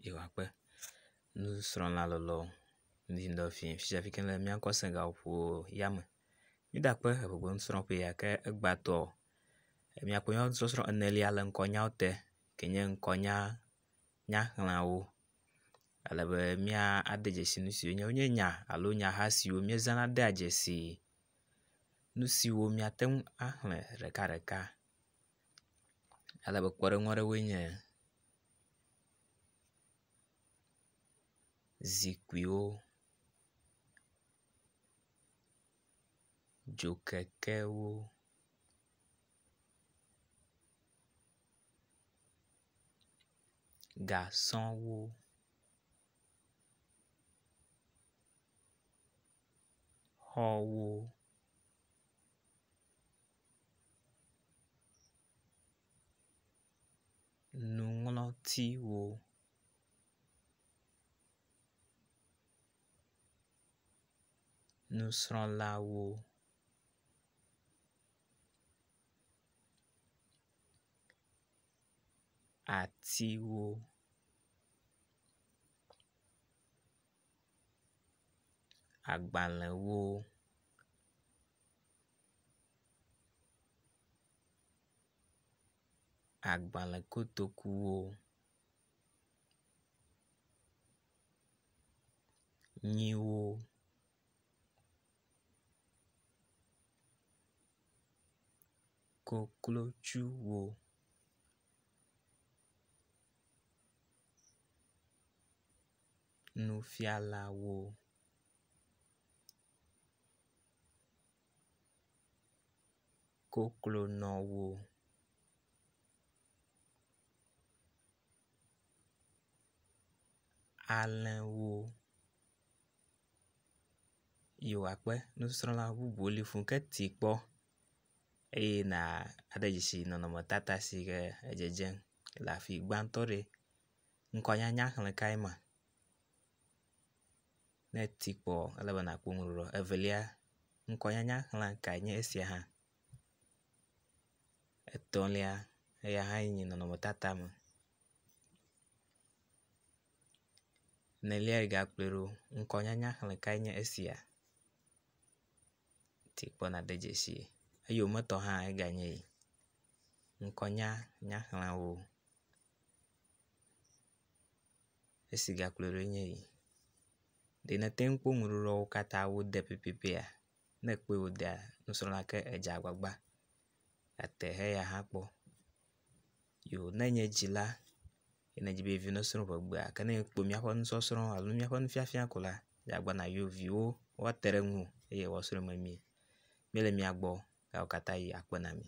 yewoakpe nusrɔ̃la lɔlɔ ŋuti ŋdɔ fiẽ fifia ke ne míakɔ Senegal ƒo yame. Mídakpe eŋɛŋe nusrɔ̃ƒe ya ke egbãtɔ míakpɔ nyɔnusɔsrɔ̃ enelia le ŋkɔnyawo te ke nye ŋkɔnya nyaxlẽawo ale be míade dzesi nu siwo nye wonye nya alo nyaha siwo míezãna dea dzesi nu siwo míate ŋu axlẽ ɖekaɖeka ale be kpɔɖeŋu aɖewoe nye. zikpuiwo dzokekewo gasɔwo xɔwo nuŋlɔtiwo. Nusrɔ̃lawo. Atiwo. Agbalẽwo. agbalẽ kotokuwo nyiwo koklotsuwo nufialawo koklonɔwo. Alẽwo yi wɔ akpe nusrɔ̃la bubuwo li fũ ke ti kpɔ eye nàde dzesi nɔnɔmetata si ke edzedzem le afi gbãtɔ ɖi. Ŋkɔnyanya xlẽ kae ma? Ne èti kpɔ ele be nàkpɔ nu ɖeɖe o. Evelia, ŋkɔnyanya xlẽ kae nye esia hã. Etɔ̃lia, eya hã yi nye nɔnɔmetata me. Enelia yi gakplɔe ɖo, ŋkɔnyanya xlẽ kae nye esia. Ti kpɔ nàde dzesi. Eyometɔ hã eganye yi. Ŋkɔnyanya xlẽwo. Esi gakplɔe ɖo nye yi. Ɖe nète ŋu akpɔ nuɖuɖuawo katã wode pɛpɛpɛa? Ne èkpɔe wodea nusrɔ̃la ke edze agbagba ate he eya hã akpɔ. Yo ne enye edzi la ye ne edzi be yeviwo nesrɔ̃ ƒe egbea gake ne ekpɔ míaƒe nusɔsrɔ̃ alo míaƒe nufiafia ko la edze agbagba na yewo viwo woate ɖe eŋu eye woasrɔ̃e memie. Míele mia gbɔ eya katã yi akpe na mi.